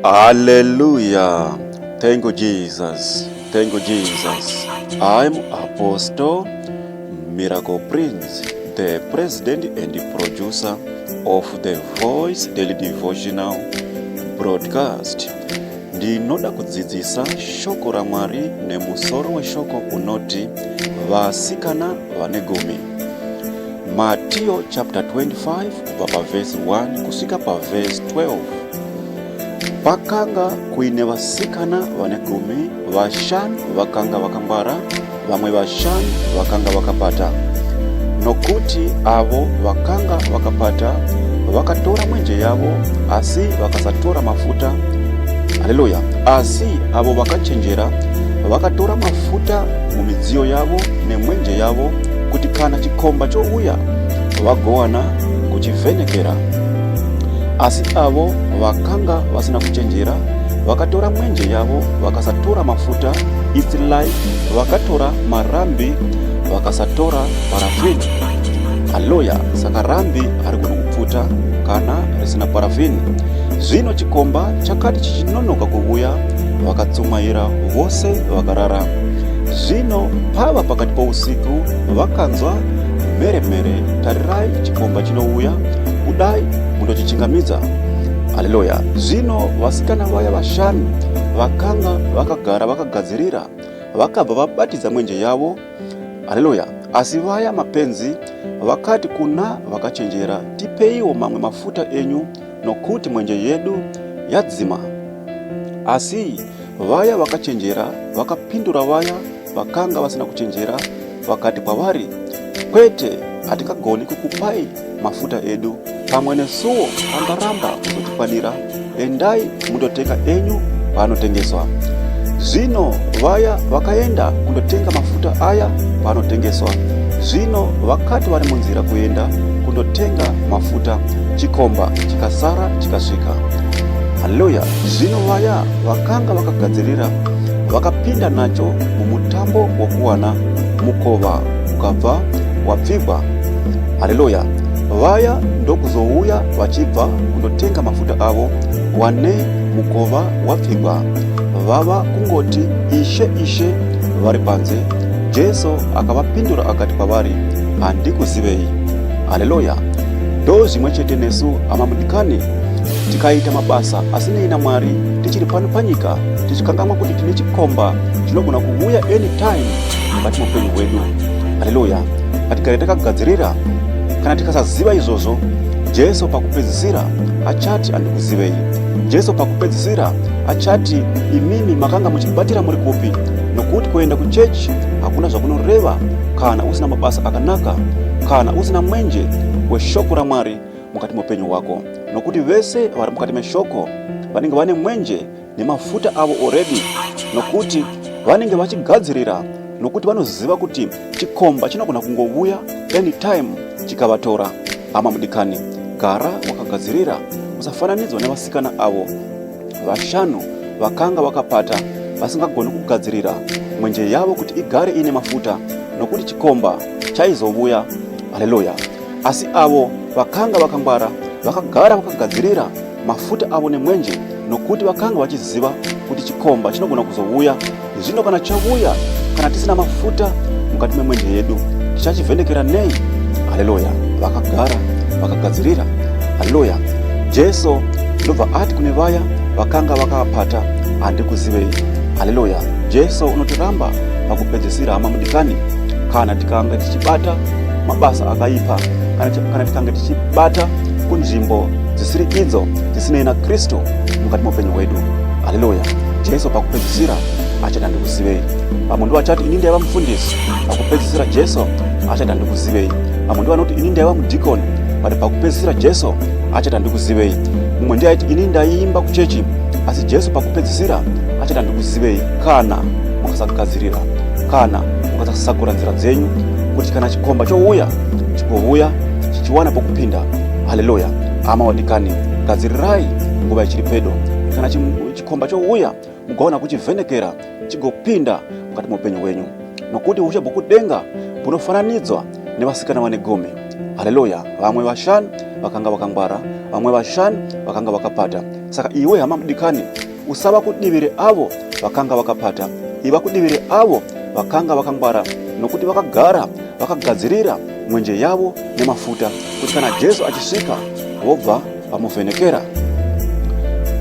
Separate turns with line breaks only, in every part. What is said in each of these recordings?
Hallelujah. Thank you, Jesus. Thank you, Jesus. I'm Apostle Miracle Prince, the president and producer of the Voice Daily Devotional Broadcast. Ndinoda kudzidzisa shoko raMwari nemusoro weshoko unoti vasikana vane gumi. Matthew chapter 25 kubva pavhesi 1 kusvika pavhesi 12 pakanga kuine vasikana vane gumi vashanu vakanga vakangwara vamwe vashanu vakanga vakapata nokuti avo vakanga vakapata vakatora mwenje yavo asi vakasatora mafuta haleluya asi avo vakachenjera vakatora mafuta mumidziyo yavo nemwenje yavo kuti kana chikomba chouya vagowana kuchivhenekera. Asi avo vakanga vasina kuchenjera vakatora mwenje yavo vakasatora mafuta isilai vakatora marambi vakasatora parafini haloya saka rambi ari kuda kupfuta kana risina parafini zvino chikomba chakati chichinonoka kuvuya vakatsumaira vose vakarara zvino pava pakati pousiku vakanzwa Mhere mhere tarirai chikomba chinouya kudai mundochichingamidza. Haleluya. Zvino vasikana vaya vashanu vakanga vakagara vakagadzirira vakabva vabatidza mwenje yavo. Haleluya. Asi vaya mapenzi vakati kuna vakachenjera, tipeiwo mamwe mafuta enyu nokuti mwenje yedu yadzima. Asi vaya vakachenjera vakapindura vaya Vakanga vasina kuchenjera vakati kwavari, Kwete, hatingagoni kukupai mafuta edu, pamwe nesuwo angaramba kuzotikwanira. Endai mundotenga enyu paanotengeswa. Zvino vaya vakaenda kundotenga mafuta aya paanotengeswa. Zvino vakati vari munzira kuenda kundotenga mafuta, chikomba chikasara chikasvika. Haleluya! Zvino vaya vakanga vakagadzirira vakapinda nacho mumutambo wokuwana mukova ukabva wapfigwa haleluya vaya ndokuzouya vachibva kundotenga mafuta avo wane mukova wapfigwa vava kungoti ishe ishe vari panze jesu akavapindura akati kwavari handikuzivei haleluya ndo zvimwe chete nesu amamudikani tikaita mabasa asinei namwari tichiri pano panyika tichikangamwa kuti tine chikomba chinogona kuuya anytime mukati meupenyu hwedu haleluya ngatigare takagadzirira kana tikasaziva izvozvo jesu pakupedzisira achati andikuzivei jesu pakupedzisira achati imimi makanga muchibatira muri kupi nokuti kuenda kuchechi hakuna zvakunoreva kana usina mabasa akanaka kana usina mwenje weshoko ramwari mukati meupenyu hwako nokuti vese vari mukati meshoko vanenge vane mwenje nemafuta avo already nokuti vanenge vachigadzirira nokuti vanoziva kuti chikomba chinogona kungovuya anytime chikavatora hama mudikani gara wakagadzirira usafananidzwa nevasikana avo vashanu vakanga vakapata vasingagoni kugadzirira mwenje yavo kuti igare iine mafuta nokuti chikomba chaizovuya haleluya asi avo vakanga vakangwara vakagara vakagadzirira mafuta avo nemwenje nokuti vakanga vachiziva kuti chikomba chinogona kuzouya zvino kana chavuya kana tisina mafuta mukati memwenje yedu tichachivhenekera nei haleluya vakagara vakagadzirira haleluya jesu ndobva ati kune vaya vakanga vakapata handikuzivei haleluya jesu unotiramba pakupedzisira hama mudikani kana tikange tichibata mabasa akaipa kana tikange tichibata kunzvimbo dzisiri idzo dzisinei nakristu mukati meupenyu hwedu haleluya jesu pakupedzisira achati handikuzivei vamwe ndivo achati ini ndaiva mufundisi pakupedzisira jesu achati handikuzivei vamwe ndivo vanoti ini ndaiva mudhikoni but pakupedzisira jesu achati handikuzivei mumwe ndiye aiti ini ndaiimba kuchechi asi jesu pakupedzisira achati handikuzivei kana mukasagadzirira kana mukasasakura nzira dzenyu kuti kana chikomba chouya chigouya chichiwana pokupinda Haleluya. Hama wadikani, gadzirirai nguva ichiri pedo. Kana chikomba chouya, mugaona kuchivhenekera chigopinda mukati meupenyu wenyu, nokuti ushe bwokudenga bunofananidzwa nevasikana vane gumi. Haleluya. Vamwe vashanu vakanga vakangwara, vamwe vashanu vakanga vakapata. Saka iwe hama mudikani, Usava kudivire avo vakanga vakapata, iva kudivire avo vakanga vakangwara, nokuti vakagara vakagadzirira mwenje yavo nemafuta, kuti kana Jesu achisvika vobva vamuvhenekera.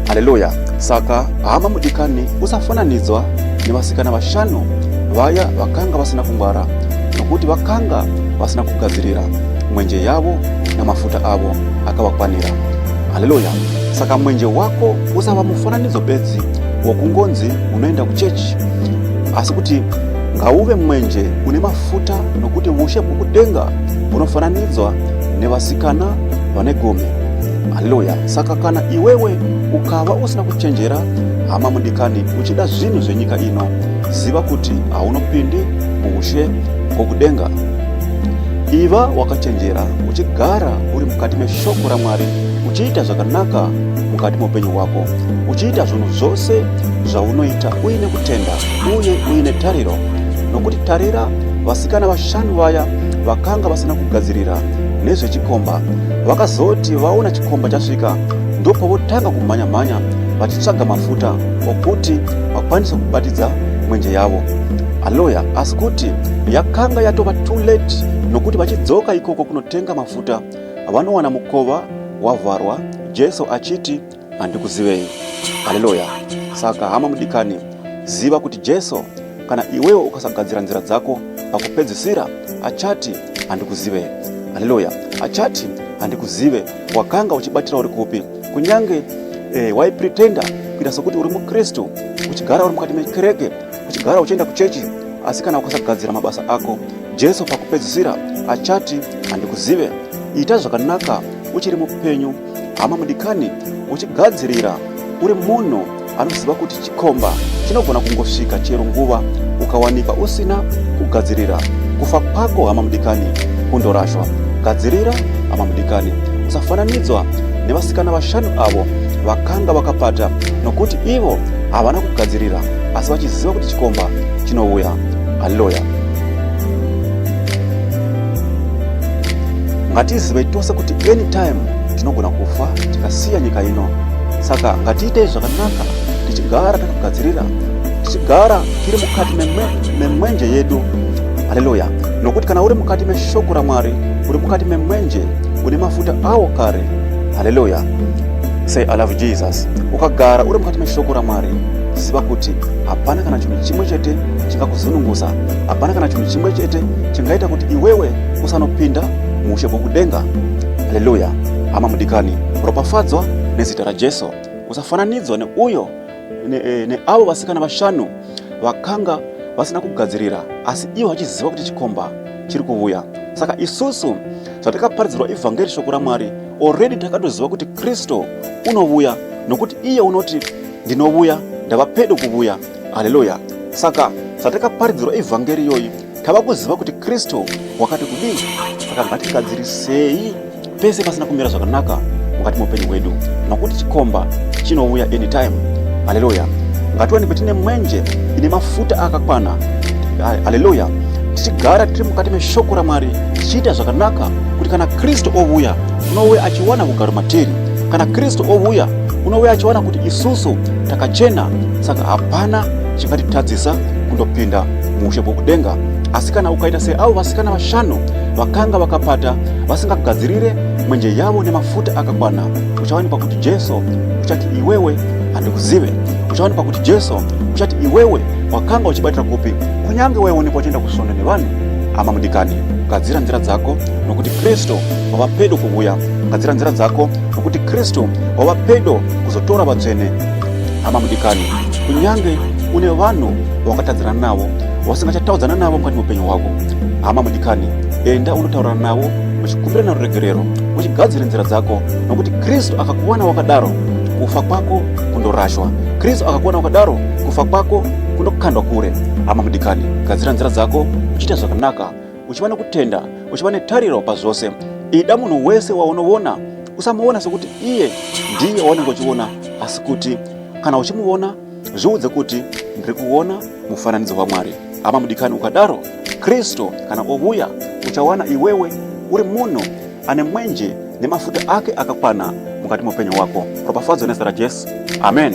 Haleluya! Saka hama mudikani, usafananidzwa nevasikana vashanu vaya vakanga vasina kungwara, nokuti vakanga vasina kugadzirira mwenje yavo namafuta avo akavakwanira. Haleluya! Saka mwenje wako usava mufananidzo bedzi wokungonzi unoenda kuchechi asi kuti ngauve mwenje une mafuta nokuti ushe bwokudenga bunofananidzwa nevasikana vane gome haleluya saka kana iwewe ukava usina kuchenjera hama mudikani uchida zvinhu zvenyika ino ziva kuti haunopindi muushe bwokudenga iva wakachenjera uchigara uri mukati meshoko ramwari uchiita zvakanaka mukati meupenyu hwako uchiita zvinhu zvose zvaunoita uine kutenda uye uine tariro nokuti tarira vasikana vashanu vaya vakanga vasina kugadzirira nezvechikomba vakazoti vaona chikomba chasvika ndopo votanga kumhanya-mhanya vachitsvaga mafuta okuti vakwanise kubatidza mwenje yavo aloya asi kuti yakanga yatova too late nokuti vachidzoka ikoko kunotenga mafuta vanowana mukova wavharwa jesu achiti handikuzivei haleluya saka hama mudikani ziva kuti jesu kana iwewo ukasagadzira nzira dzako pakupedzisira achati handikuzive haleluya achati handikuzive wakanga uchibatira uri kupi kunyange eh, waipretenda kuita sokuti uri mukristu uchigara uri mukati mekereke uchigara uchienda kuchechi asi kana ukasagadzira mabasa ako Jesu pakupedzisira achati, Handikuzive. Ita zvakanaka uchiri mupenyu, hama mudikani, uchigadzirira uri munhu anoziva kuti chikomba chinogona kungosvika chero nguva ukawanikwa usina kugadzirira kufa kwako hama mudikani kundorashwa gadzirira hama mudikani usafananidzwa nevasikana vashanu avo vakanga vakapata nokuti ivo havana kugadzirira asi vachiziva kuti chikomba chinouya haleluya Ngatizive tose kuti anytime tinogona kufa tikasiya nyika ino. Saka ngatiitei zvakanaka tichigara takagadzirira, tichigara tiri mukati memwenje yedu. Haleluya! Nokuti kana uri mukati meshoko raMwari, uri mukati memwenje, une mafuta awo kare. Haleluya! Say I love Jesus. Ukagara uri mukati meshoko raMwari, ziva kuti hapana kana chinhu chimwe chete chingakuzununguza. Hapana kana chinhu chimwe chete chingaita kuti iwewe usanopinda muushe bwokudenga. Haleluya! Hama mudikani, ropafadzwa nezita raJesu. Usafananidzwa neuyo eh, neavo vasikana vashanu vakanga vasina kugadzirira, asi ivo vachiziva kuti chikomba chiri kuvuya. Saka isusu zvatakaparidzirwa ivhangeri shoko raMwari already takatoziva kuti Kristu unovuya nokuti iye unoti ndinovuya ndava pedo kuvuya. haleluya saka satakaparidzirwa evhangeri iyoyi tava kuziva kuti kristu wakati kudii saka ngatigadzirisei pese pasina kumira zvakanaka mukati meupenyu hwedu nokuti chikomba chinouya anytime haleluya ngatiwanikwe tine mwenje ine mafuta akakwana haleluya tichigara tiri mukati meshoko ramwari tichiita zvakanaka kuti kana kristu ouya unouya achiwana kugaro matiri kana kristu ouya unouya achiwana kuti isusu takachena saka hapana chingatitadzisa kundopinda muushe bwokudenga asi kana ukaita seavo vasikana vashanu vakanga vakapata vasingagadzirire mwenje yavo nemafuta akakwana uchawanikwa kuti jesu uchati iwewe handikuzive uchawanikwa kuti jesu uchati iwewe wakanga uchibatira kupi kunyange waionekwa uchienda kusvondo nevanhu hama mudikani gadzira nzira dzako nokuti kristu wava pedo kuvuya gadzira nzira dzako nokuti kristu wava pedo kuzotora vatsvene hama mudikani kunyange une vanhu vawakatadzirana navo vasingachataudzana navo mukati meupenyu hwako hama mudikani enda unotaurana navo uchikumbirana ruregerero uchigadzire nzira dzako nokuti kristu akakuwana wakadaro kufa kwako kundorashwa kristu akakuwana wakadaro kufa kwako kunokandwa kure hama mudikani gadzira nzira dzako uchiita zvakanaka uchiva nekutenda uchiva netariro pazvose ida munhu wese waunovona usamuvona sekuti iye ndiye waunenge uchivona asi kuti kana uchimuvona zviudze kuti ndiri kuvona mufananidzo wamwari hama mudikani ukadaro kristu kana ovuya uchawana iwewe uri munhu ane mwenje nemafuta ake akakwana mukati meupenyu wako ropafadzo nezita rajesu amen